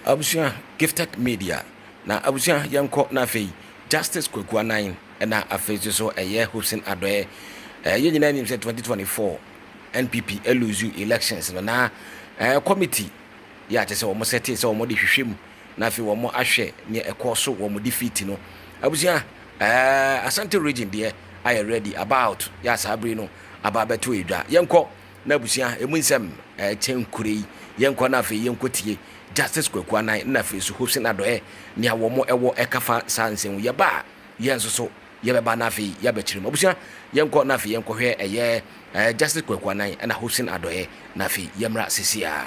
Abusua gifted media na abusua yɛnkɔ na afei justice kwaku anan na afei nso so ɛyɛ hopsin adɔɛ ɛɛ yɛn nyinaa nim sɛ 2024 npp eluzu elections no na ɛɛ committee yɛ akyɛ sɛ wɔn sɛte sɛ wɔn de hwehwɛ mu na afei wɔn ahwɛ nea ɛkɔɔ so wɔ wɔn defeat no. Abusua, ɛɛ Asante region deɛ ayɛ ready about yɛ saa bere no aba abɛto edwa. Yɛnkɔ na abusua emu nsɛm ɛkyɛ nkure yi. Yɛnkɔ na afei yɛnkɔ tie Justice Kwaku Anan na afei so Hopsin Adɔɛ nea wɔn ɛwɔ ɛka fa saa nsɛm ho. Yɛba a yɛn nso so yɛbɛba na afei yɛabɛkyerɛ mu. Abusua, yɛnkɔ na afei yɛnkɔhwɛ ɛyɛ ɛɛ Justice Kwaku Anan ɛna Hopsin Adɔɛ na afei yɛmmra sisiaa.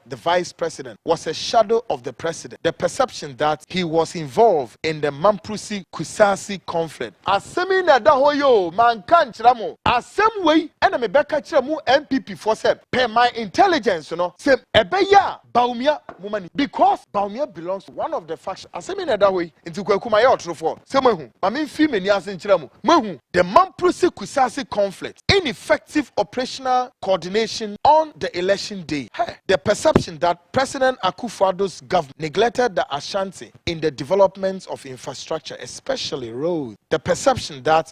the vice president was a shadow of the president, the perception that he was involved in the Mamprose Kusase conflict. Asɛm yi na ɛda hɔ yi o, manka ankyerɛ mo. Asɛm wei na mebɛka kyerɛ mo NPP foɔ sɛ, per my intelligence no, sɛ ɛbɛyɛ a Bawumia, momma ni, because Bawumia belongs to one of the faction. Asɛm yi na ɛda hɔ yi. Enti Kwaku mayɛ ɔtorofoɔ sɛ moahu ma memfiri m'ani ase nkyerɛ mo moahu the Mamprose Kusase conflict ineffective operational coordination on the election day he the perception that President Akufo-Addo's government neglected the Ashanti in the development of infrastructure especially roads the perception that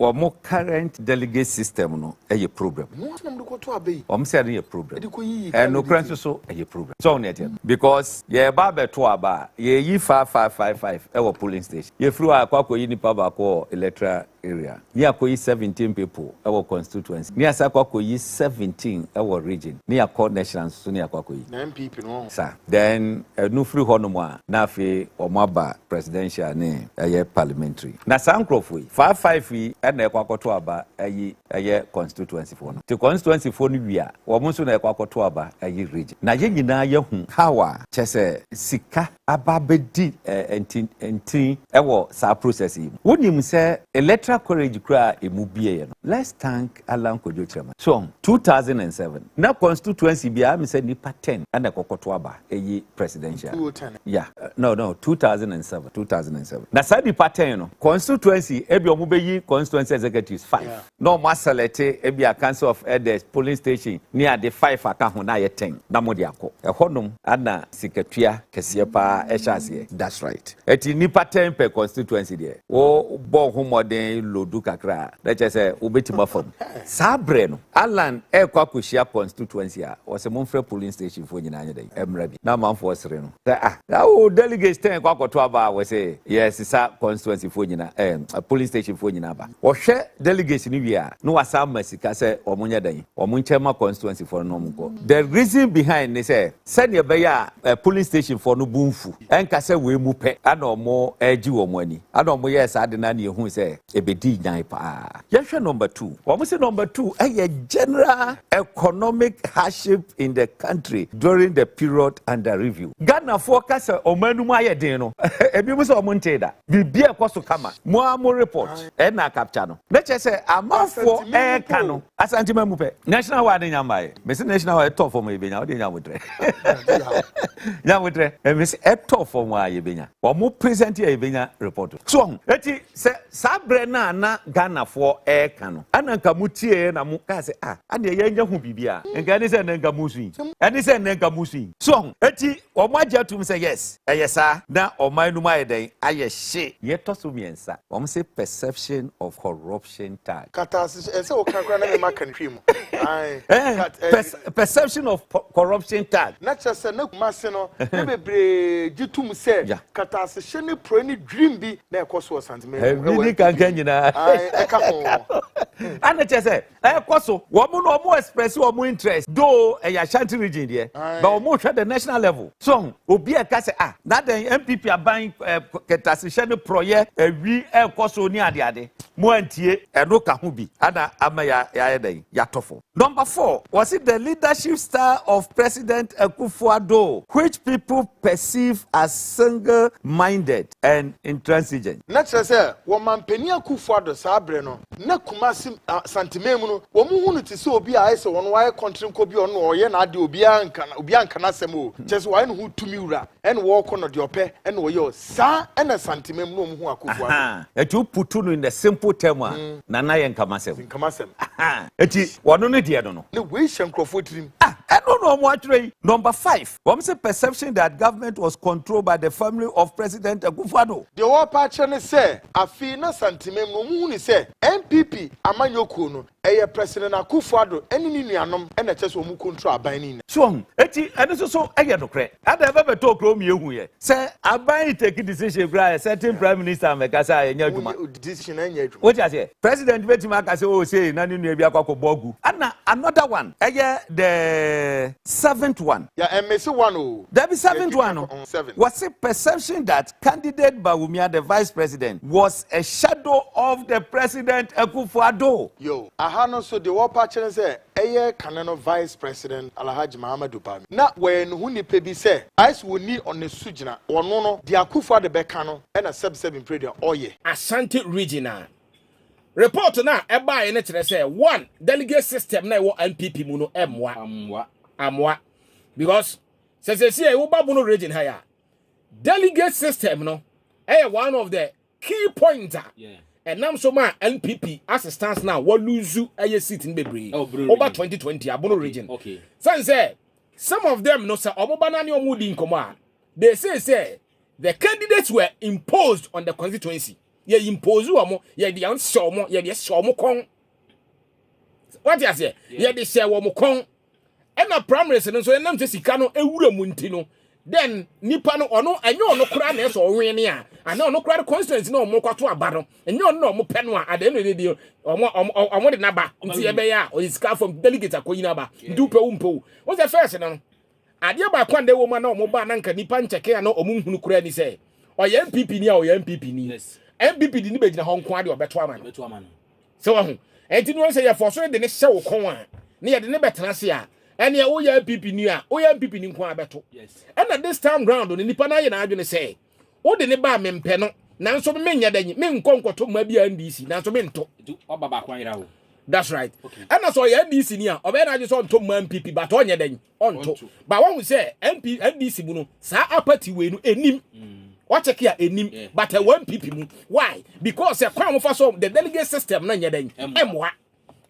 Wɔn current delegate system no yɛ problem. Wɔn sɛ no yɛ problem. And nokorɛ nso so ɛyɛ problem. So wɔn ɛteɛ no. Because yɛreba abɛto aba a, yɛyi five five five five ɛwɔ polling station. Yɛfiri hɔ a yɛakɔ akɔyi nipa baako wɔ electoral area. Ne yɛakɔyi seventeen people ɛwɔ constituency. Ne yɛasan akɔ akɔyi seventeen ɛwɔ region. Ne yɛakɔ national nso so ne yɛakɔ akɔyi. Saa. Then ɛno firi hɔ nom a, na afei wɔn aba presidential ne ɛyɛ parliamentary. Na saa nkorɔfoɔ yi, faa five yi na ɛkɔ akɔto aba ɛyi ɛyɛ constituency foɔ no. Te constituency foɔ no wie a, wɔn nso na ɛkɔ akɔto aba ɛyi region. Na yɛn nyinaa yɛahu how a kyɛ sɛ sika aba abɛdi nti nti ɛwɔ saa process yi mu. Wonim sɛ electoral college koraa a ɛmu bieɛ no, let's thank Allan Kwadwo Kyerɛman. So wɔn? Two thousand and seven na constituency biara ɛmi sɛ nipa ten ɛna ɛkɔkɔto aba ɛyi presidential. Two ten. Yeah, no no two thousand and seven. Two thousand and seven na saa nipa ten no constituency ɛbi wɔn bɛ yi constituency executives five. Yeah. Na wɔn asɛlɛte ɛbi a council of elders, polling station ne ade five aka ho na ayɛ ten na wɔn de akɔ ɛhɔ nom ɛna sikatua kɛseɛ paa ɛhyɛ aseɛ. That's right. Ɛti nnipa tɛn pɛ constituency deɛ wo bɔ wo ho mmɔden lodu kakra a na kyerɛ sɛ wo bɛtim afa mu. Saa berɛ no Allan ɛrekɔ akɔhyia constituency a ɔse momfrɛ polling station foɔ nyinaa nyɛ dɛn ɛmmra bi na amanfoɔ sere no sɛ ah na wo delegates tɛn kɔ akɔto aba a wɔse yɛresesa constituency foɔ nyinaa ɛɛm polling station foɔ nyinaa ba. Wɔhwɛ delegates no wie a na wasan ma sika sɛ wɔn nyɛ dɛn wɔn nkyɛ ma constituency foɔ no na wɔn nkɔ. The reason behind ne sɛ Sɛdeɛ ɛbɛyɛ a polling station foɔ no bo nfu, ɛnka sɛ wei mu pɛ na wɔregye wɔn ani, ɛna wɔyɛɛ saa de no na yɛhui sɛ ɛbɛdii nyan paa. Yɛnhwɛ number two. Wɔse number two yɛ general economic hardship in the country during the period under review. Ghanafoɔ ka sɛ wɔn anum ayɛ den no, ɛbinom sɛ wɔn ntee da. Biribiara ɛkɔ so kama. Mo ara mo report ɛna capture no. Na kyerɛ sɛ amanfoɔ ɛreka no, Asante ma mu pɛ. National wide nya mbae. Me se national wide ɛtɔ fam yɛ benya. Ɔde nya motrɛ. Nya motrɛ. Me se ɛtɔ fam a yɛ benya. Ɔmo present yɛ yɛ benya report. So ɔho. Eti sɛ saa brɛ no a na Ghana foɔ ɛɛka no ɛna nka mo tieɛ na mo kaa sɛ ah adeɛ yɛ nya hu biribi a nka ɛne sɛ ɛnɛ nka mo sui. Ɛne sɛ ɛnɛ nka mo sui. So ɔho. Eti ɔmo agye atum sɛ yes ɛyɛ saa na ɔman no mu ayɛ dɛn ayɛ hye. Yɛ ɛtɔ so miɛnsa. Ɔmo se perception of corruption. hyɛ ntaade. Kata se ɛsɛ wo ka kora na mema ka ntwi mu. Perception of corruption tag. Na kyerɛ sɛ na Kumase no na bebree gye tom sɛ kata ase hyɛ ne porɔe ne dwirim bi na ɛkɔ so wɔ Santeman mu. Ɛbi ni kankan nyinaa. Ɛka ho. Ana kyerɛ sɛ ɛkɔ so wɔn no wɔn express wɔn interest though ɛyɛ Ashanti region deɛ but wɔn hwɛ the national level. So woahu? Obi reka sɛ, Ah, na dɛn, NPP aban eh, kɛntasehyɛ ne porɔeɛ, awi ɛrekɔ so ne adeade. Moantie. Ɛno ka ho bi ana ama ya yɛayɛ dɛn? Yɛatɔ fam. Number four, wɔse the leadership style of President Akufo-Addo, which people perceive as single-minded. and intransigent. Na kyerɛ sɛ wɔ Mampanin Akuffo Addo saa bere no, na Kumasi, Asanteman mu no, wɔhu no te sɛ obi a ayɛ sɛ ɔno wayɛ kɔntrenkɔ bi a ɔno na ɔyɛ n'ade, obiara nka obiara nka n'asɛm o, kyerɛ sɛ wayɛ ne ho tumi wura ɛna ɔɔkɔ na deɛ ɔpɛ ɛna ɔyɛ o. Saa ɛna Asanteman mu na wɔhu Akuffo Addo. Ahaa, ɛti wo putu no in the simple term a, Nana yɛ nka m'asɛm. Nka m'asɛm. Ahaa, ɛti wɔno ne deɛ no no. Na wei hyɛ nkurɔfoɔ tirim. Ah, ɛno na wɔatwerɛ yi, number five. Wɔn se perception that government was controlled by the family of President Akufo-Addo. Deɛ wɔrepɛ akyerɛ ne sɛ afei na Santemem no wɔhunu sɛ NPP amanyɔkuo no ɛyɛ President Akufo-Addo ne ne nuanom na ɛkyerɛ sɛ wɔn control aban no nyinaa. So wahu? Enti ɛno nso so yɛ nokorɛ? Adɛn bɛbɛtɔɔ kuro mmienu huiɛ? Sɛ aban yi take decision koraa yɛ certain yeah. prime minister mɛka sɛ yɛnyɛ adwuma. Woyɛ decision ɛnyɛ adwuma. Wote aseɛ? President bɛtumi aka sɛ o oh, sei na ne nua bi akɔ akɔbɔ agu. Ɛna another one ɛyɛ the seventh one. Yɛ yeah, mmesi one o. Oh. Dabi seventh one no. Oh, seven. Wɔsi perception that candidate Bawumia the vice president was a shadow of the president Akufo-Addo. Yo, aha no so de wɔpa kyerɛ sɛ Ɛyɛ kane no Vice President Alhaji Mahamadou Bami. Na wɔyɛ ne ho nipa bi sɛ. Ice wɔ ni ɔ ne so gyina. Ɔno no, deɛ Akuffo Addo bɛka no na sɛb sɛb mpire deɛ ɔyɛ. Asante Region a. Report no a ɛbaeɛ no kyerɛ sɛ one, delegate system no a ɛwɔ NPP mu no ɛmmoa. Ammoa. Ammoa. Because sɛ seesei woba Bono Region ha yi a, delegate system no ɛyɛ one of the. key point a ɛnam so ma npp ase stance na wɔ lose ɛyɛ seat no bebree ɔba 2020 abono region sɛn sɛ some of them no sɛ ɔmo ba na ne ɔmo di nkɔmɔ a they say sɛ the candidates were imposed on the constituency yɛ impose ɔmo yɛ de hyɛ ɔmo yɛ de hyɛ ɔmo kɔn wɔte aseɛ yɛ de hyɛ wɔn kɔn. ɛna primaries no nso ɛnam sɛ sika no ewura mu nti no then nipa no ɔno ɛnyɛ ɔno koraa na ɛsɛ ɔwen ne a anaa ɔno koraa no constituency na ɔmo kɔto aba no ɛnyɛ ɔno na ɔmo pɛ no a at the end of the day ɔmo ɔmo ɔmo de n'aba nti ɛbɛyɛ a ɔyɛ sika fam delegate akɔyi n'aba nti wopɛ wo mpɛ wo wɔn sɛ fɛs no no adeɛ baako a na ɛwɔ mu a na ɔmo ba na nka nipa nkyɛke a na ɔmo nhunu koraa ni sɛ ɔyɛ npp ni a ɔyɛ npp ni npp de ne bɛgyina hɔ nko adeɛ ɔbɛto ama no sɛ wahu ɛnti no sɛ yɛfɔ so de ne hyɛ wo kɔn a ne yɛde ne bɛtena se a ɛneɛ woyɛ npp ni a woyɛ npp ni nko a bɛto ɛna this time round no nipa no ayɛ n'adwene sɛ wode ne ba a mempɛ no nanso menyɛ dɛ nyi menkɔ nkɔto mma bi a ndc nanso mento that's right ɛna sɛ ɔyɛ ndc ni a ɔbɛyɛ n'adwene sɛ ɔnto mma npp but ɔnyɛ dɛ nyi ɔnto ba wahu sɛ mp ndc mu no saa apati wei no enim wakyɛke a enim but ɛwɔ npp mu why because ɛkwan a wɔfa so the delegate system no nyɛ dɛn ɛmoa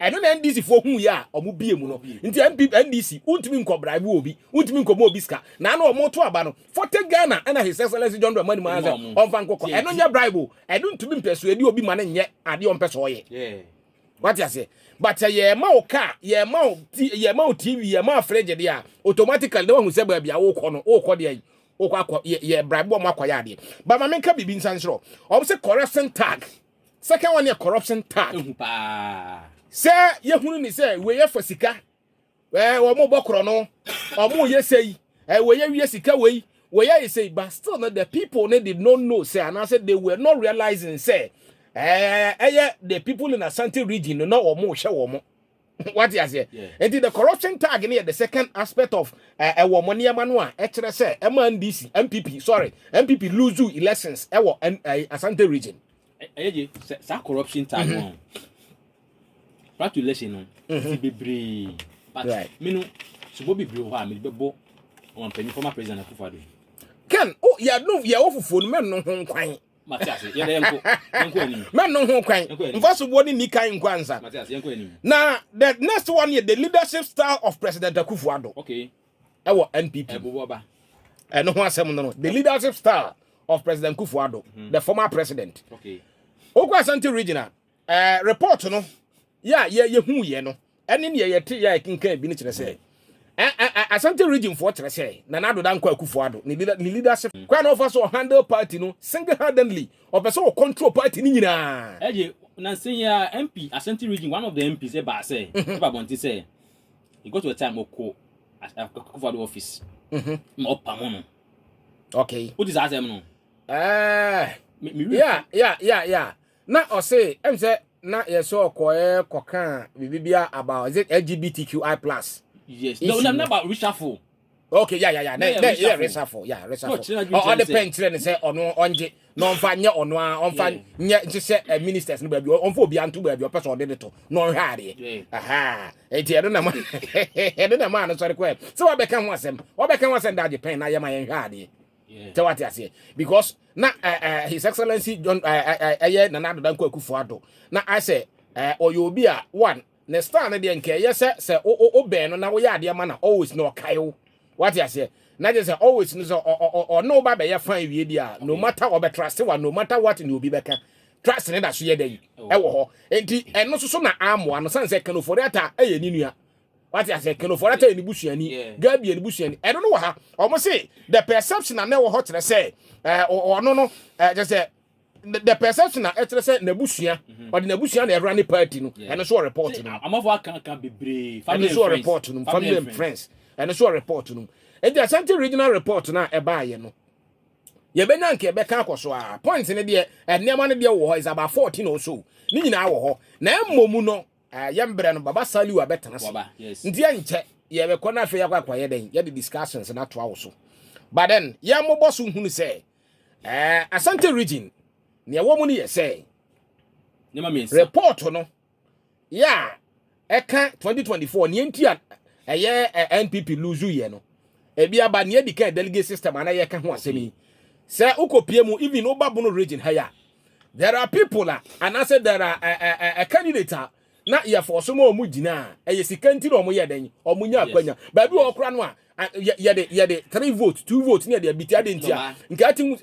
ɛno na ndc foɔ hu yɛ a wɔn bie mu no nti npp ndc wontumi nkɔ bribe wɔ obi wontumi nkɔ bɔ obi sika na ano wɔn to aba no forte ghana ɛna his excellence john dramani maa sɛ ɔnfa nkɔkɔ ɛno nyɛ bribe o ɛno ntumi mpɛsoɛ di obi ma no nyɛ adeɛ ɔmpɛ sɛ ɔyɛ. wate aseɛ but sɛ yɛma wo car yɛma wo ti yɛma wo tv yɛma wo fridge deɛ a automatically na wahu sɛ baabi a wokɔ no wokɔ deɛ wokɔ akɔ yɛ yɛ bribe wɔn akɔ yɛ adeɛ ba ma menka biribi nsan soro wɔn sɛ corruption tag second one yɛ corruption tag ehu paa sɛ yɛhunu ne sɛ wei yɛ fa sika eh, wɔn bɔ korɔ no wɔn yɛ sɛ yi eh, wɔyɛ wie sika wɔ yi wɔyɛ ayɛ sɛ yi but still no the people no did not know sɛ anaasɛ they were not realizing sɛ eh, ɛyɛ the people in asante region no na wɔn hyɛ wɔn wate aseɛ nti the corruption tag no yɛ the second aspect of eh, ɛwɔ mo nneɛma no a ɛkyerɛ sɛ ɛma ndc mpp sorry mpp lose elections ɛwɔ ɛn- eh, asante region ɛyɛ gye sɛ saa corruption tag no Fatu lɛhyɛ no ti bebree but right. me no sobo bebree wɔ hɔ a mede bɛbɔ wɔn mpanyin former president akufo ado. Ken o yɛ no yɛ wɔ fufuo no mɛ no ho nkwan. Mate ase yɛ dɛ nko nko anim. Mɛ no ho nkwan nfa sobo ne ni kan nko ansa. Mate ase yɛ nko anim. Na the next one yɛ the leadership style of president akufo ado. Okay. Ɛwɔ NPP. Ɛbobo aba. Ɛno ho asɛm no no the leadership style of president akufo ado mm-hmm. the former president. Okay. Okwa Asante regional. Ɛɛ, report no yɛ a yɛ yɛhuiɛ no ɛne neɛ yɛte yɛ a yɛkenkan bi no kyerɛ sɛ ɛ ɛ ɛ Asante region foɔ kyerɛ sɛ Nana Addo Dankwa Akufo Addo ne leader ne leadership kwan na ɔfa so ɔhandle party no single handedly ɔpɛ sɛ ɔcontrol party no nyinaa. Ɛgye nansa yi ara MP Asante region one of the MPs ɛbaa sɛ ɛba abɔnten sɛ he got to a time ɔkɔ Akufo Addo office ma ɔpamo no. Okay. Wote saa asɛm no? Ɛɛ, Me, me read. yeah, yeah, yeah, yeah. Na ɔse ɛm sɛ na yɛ sɛ ɔkɔɛ kɔka biribi bi about is it LGBTQI plus. Yes, no, na na ba reshuffle. Okay, yeah, yeah, yeah. Na na yɛ reshuffle, yeah, reshuffle. Ɔ ɔde pɛn kyerɛ ne sɛ ɔno ɔngye na ɔmfa nyɛ ɔno a ɔmfa nyɛ nhyehyɛ eh, ministers no baabi ɔmfa obi anto baabi ɔpɛ sɛ ɔde de to na ɔnhwɛ adeɛ. Aha, eti ɛno na ma ɛno na ma ano sɔre kɔɛ. Sɛ wabɛka ho asɛm, wabɛka ho asɛm da agye pɛn na yɛma yɛnhwɛ adeɛ. sɛ wate aseɛ because na eh, eh, his excellency john eh, eh, eh, ɛyɛ eh, nana adoda nkɔ akufo ado na asɛ eh, ɔyɛ obi a one ne star no deɛ nka ɛyɛ sɛ sɛ wo- wo- wobɛn no na woyɛ adeɛ ma no always na ɔkae wo wate aseɛ na kyerɛ sɛ always no sɛ ɔ- ɔ- ɔ- ɔne wo ba bɛyɛ fan wie deɛ a no matter ɔbɛtrase wa no matter what ne obi bɛka trase ne da so yɛ dɛ yi ɛwɔ hɔ enti ɛno nso so na amoa no sane sɛ kanofori ata ɛyɛ ne nua wate ase kelo for ata enibusuani gabi enibusuani ɛno no wɔ ha wɔn se the perception na ɛwɔ hɔ kyerɛ sɛ ɛɛ ɔno no ɛɛ kyerɛ sɛ the perception na ɛkyerɛ sɛ n'abusua mhm. ɔde n'abusua na ɛra ne party no ɛno so report no amafo akanka bebree family and friends ɛno so report no family and friends ɛno so report no eti asante regional report na ɛbaa yɛ no yɛbɛnya nka yɛbɛka akɔ so a point no deɛ nneɛma no deɛ wɔ hɔ is about fourteen or so ne nyinaa wɔ hɔ na mmom no Eh, yɛ mbrɛ no baba saliu abɛtena se Waba, yes. nti ɛnkyɛ yɛbɛkɔ na afei yɛakɔ akɔyɛ dɛn yɛde discussions no atoa wo so but then yɛn mobɔ so hunu sɛ eh, asante region nea ɛwɔ mu no yɛ sɛ Nneɛma mmiɛnsa. report no yɛ a ɛka 2024 nea nti a ɛyɛ eh, npp lose yɛ no ebi aba nea edi kan delegate system ana yɛka ho asɛm yi sɛ wokɔpie mu even woba bono region ha yi a There are people a anaasɛ there are a, a, a, a candidate a na yɛfɔ so ma ɔmo gyina a ɛyɛ sika nti na ɔmo yɛ dɛn ɔmo nya yes akwanya baabi wɔ yes ɔkora no a a- yɛ- yɛde yɛde three vote two vote ne yɛde abiti ade nti a dɔmaa nka ati mu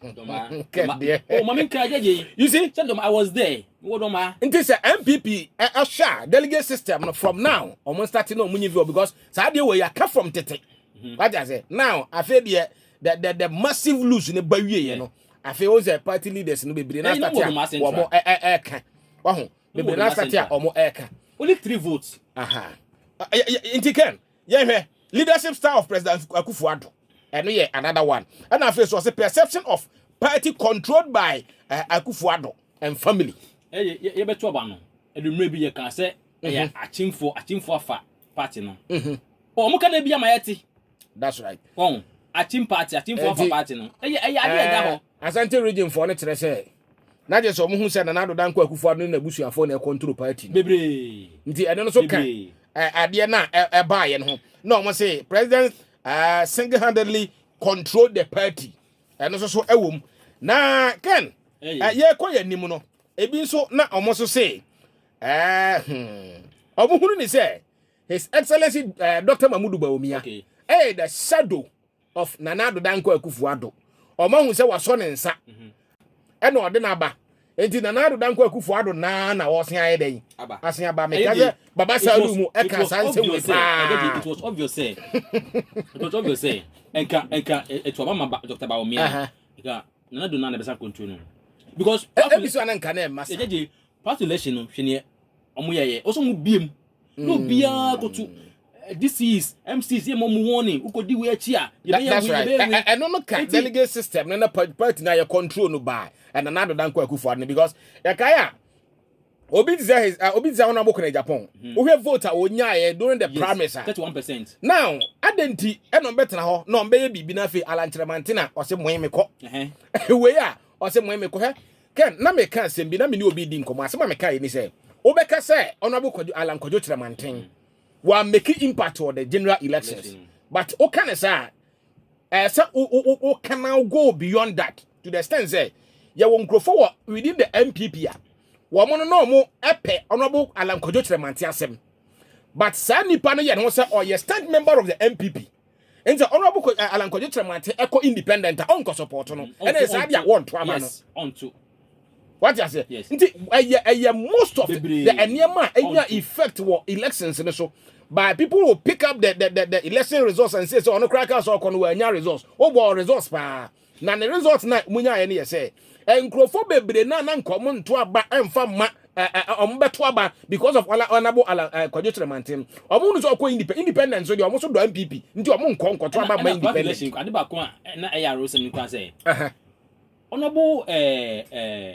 dɔmaa dɔmaa kɛdeɛ oh maame nkira gyagye yi you see sɛ dɔm i was there mewɔ dɔmaa nti sɛ npp ɛ- ɛhwɛ a delegate system no from now ɔmo start na ɔmo nye view because saa deɛ wɔ yɛ aka from tete wagya sɛ now afei deɛ the the the massive lose ne ba wie yɛ yeah no afei wo sɛ party leaders no bebree na start a wɔn ɛɛka waho bebree na start a wɔn ɛɛka. only three votes. aha nti ken yɛn hwɛ leadership style of president Akufo-Addo ɛno yɛ another one ɛna afei so ɔsɛ perception of party controlled by uh, eh, Akufo-Addo and family. ɛyɛ eh, yɛbɛto aba no ɛdumire bi yɛ kan sɛ ɛyɛ akyimfo akyimfo afa party no. wɔn mhm. ka na ebi ama yɛ ti. that's right. wɔn atim party atimfoɔ nfa party no ɛyɛ ɛyɛ adeɛ ɛda eh, hɔ. asante region foɔ no kyerɛ sɛ na gye sɛ wɔn ho sɛ nana adoda nkɔ akufo ado ne n'abusuafoɔ na ɛkɔntoro party no bebree nti ɛno nso ka bebree eh, adeɛ no a ɛbaa yɛ no ho na wɔn se president eh, single handedly control the party ɛno nso so ɛwɔ mu na ken ɛyɛ eh, yɛkɔ yɛn anim no ebi nso na wɔn nso se ɛɛ hmm, wɔn hunu ne sɛ. His Excellency uh, eh, Dr. Mamudu Bawumia, okay. eh, the shadow of Nana Addo Dankwa Akufo-Addo. Ọma hu sɛ wasɔ ne nsa. Mhm. Ɛna ɔde n'aba. Enti Nana Addo Dankwa Akufo-Addo naa na ɔsen ayɛ dɛn? Asen aba. Meka sɛ Baba Salu mu ɛka saa nsɛm wei paa. It was obvious sɛ. It was obvious sɛ. Nka nka etu aba ma Dr. Bawumia. Nka Nana Addo naa na ɛbɛsa control no. Because. Ebi so ananka na ɛma sa. Past election no hwɛ neɛ ɔmo yɛyɛ ɔsɛ ɔmo bie mu na obiara koto eh, dcs mcs yɛ ma ɔmo warning wokɔdi wei akyi a That, yɛbɛyɛ that's wei right. yɛbɛyɛ Ɛ- wei ɛ- Ɛno no ka Enti- delegate system no na pa- party na yɛ control no by ɛna na adodan kɔ akufo ado no because yɛkae a obi te sɛ his ah, obi te sɛ honorable kɔnɛ Japan wohwɛ vote a onyaeɛ during the primaries a thirty one percent now adɛn nti ɛna ɔmbɛtena hɔ na ɔmbɛyɛ biribi no afei alankyerɛmante na ɔse moe mekɔ wei a ɔse moe mekɔ hwɛ Ken, na meka asɛm bi, na me ne obi redi nkɔmmɔ. Asɛm a mekaeɛ ni sɛ, wobɛka sɛ Honourable Kwadwo, Alan Kwadwo Kyerɛmanten, wammake impact wɔ the general elections. But woka ne saa a, ɛɛ sɛ wo- wo- wo- wo can now go beyond that to the extent sɛ yɛwɔ nkurɔfoɔ wɔ within the NPP a wɔn no na wɔn pɛ Honourable Alan Kwadwo Kyerɛmanten asɛm. But saa nipa no yɛ ne ho sɛ ɔyɛ stand member of the NPP. nti honorable eh, Alan Kojo Tremante ɛkɔ independent a ɔnkɔ support no ɛna saa de a wɔnto ama no ɔnto wate aseɛ nti ɛyɛ ɛyɛ most of the nneɛma a ɛnya effect wɔ elections no so by people will pick up the the the, the election results and say sɛ ɔno koraa kaa sɛ ɔkɔ no wɔanya results wobɔ results paa Na ne result na ɔmo nyaeɛ no yɛ sɛ nkurɔfoɔ bebree na na nka ɔmo nto aba mfa mma ɛ ɛ ɔmo bɛto aba because of ɔla ɔnabo ala ɛ Kwadwo Kyerɛmanten no ɔmo hunu sɛ ɔkɔ independent independent nso deɛ ɔmo so dɔ MPP nti ɔmo nkɔ nkɔto aba mma independent. Ɛna ɛna ade baako a na ɛyɛ awerɛhosɛm no kura sɛ ɔnabo ɛɛ ɛɛ.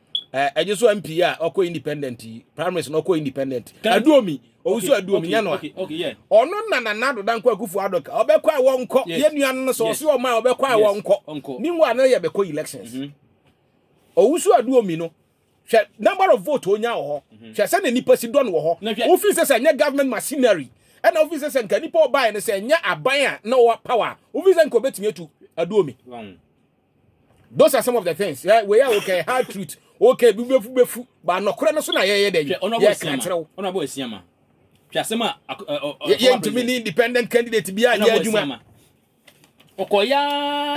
Eh, ɛgye so mp a ɔkɔ independent yi primaries na ɔkɔ independent aduomi owusu aduomi nyɛ no a ɔno na nana adoda nkɔ akufo adɔka ɔbɛkɔ a wɔnkɔ yɛ nua no no sɛ ɔse ɔma a ɔbɛkɔ a wɔnkɔ meanwhile na yɛ bɛkɔ elections mhm. owusu aduomi no hwɛ number of vote onya wɔ hɔ mhm. hwɛ sɛ na nipa si dɔn wɔ hɔ wofi sɛ sɛ nyɛ government machinery ɛna wofi sɛ sɛ nka nipa ɔbaeɛ no sɛ nyɛ aban a na ɔwɔ power wofi sɛ nka ɔbɛtumi atu aduomi those are some of the things eh, wei a wokɛ hard truth wokɛ bibefu befu ba nɔkorɛ no so na yɛyɛ dɛ yi yɛka kyerɛ wo ɔnabɔ asiama hwɛ asɛm a yɛntumi ne independent candidate bi a yɛ adwuma ɔkɔya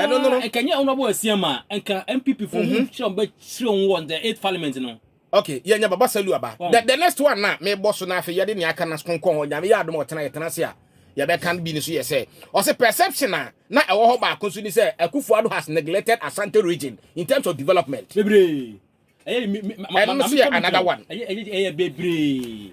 ɛno no no nkɛnyɛ ɔnabɔ asiama nka mpp fo mu mhm. kyerɛ wɔn bɛkyerɛ wɔn wɔ the eighth parliament no Okay, yɛ nya baba salu aba. The, the next one na me boss na afi yɛ de ne aka na skonkon ho nyame yɛ adom ɔtena yɛ tena se a yɛ bɛ kan bi ne so yɛ sɛ ɔse perception a na ɛwɔ hɔ baako so ni sɛ Akufo-Addo has neglected Asante region in terms of development. Bebree. Ɛyɛ me me ma ma me another one. Ɛyɛ ɛyɛ ɛyɛ bebree.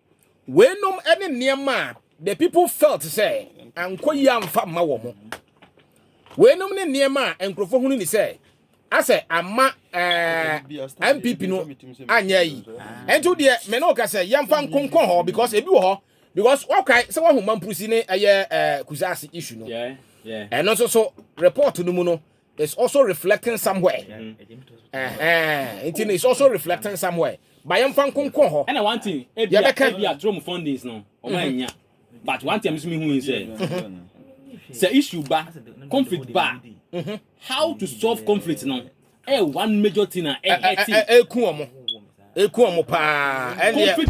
weinom ne nneɛma a the people felt sɛ ankɔ yie amfa mma wɔ mo weinom ne nneɛma a nkurɔfoɔ hunu ni sɛ asɛ ama mpp eh, no anyɛ yi ɛnto deɛ me ne woka sɛ yɛmfa nkonkɔ hɔ because ebi wɔ hɔ because wokae sɛ woahu mampurusi ne ɛyɛ eh, kusaase issue no ɛno nso so report no mu no It's also reflecting somewhere. Uh-huh. Nti it's also reflecting somewhere. Ba yɛmfa nkonkɔn hɔ. Ɛna one thing, ebia ebia trom fundings no, ɔmo mm-hmm. anya. But one thing, ɛmi hu sɛ, mm-hmm. sɛ issue ba, conflict ba, mm-hmm. how to solve conflict no, ɛ eh, one major thing na ɛ ɛ ti. Eku ɔmo, eku ɔmo paa. Conflict.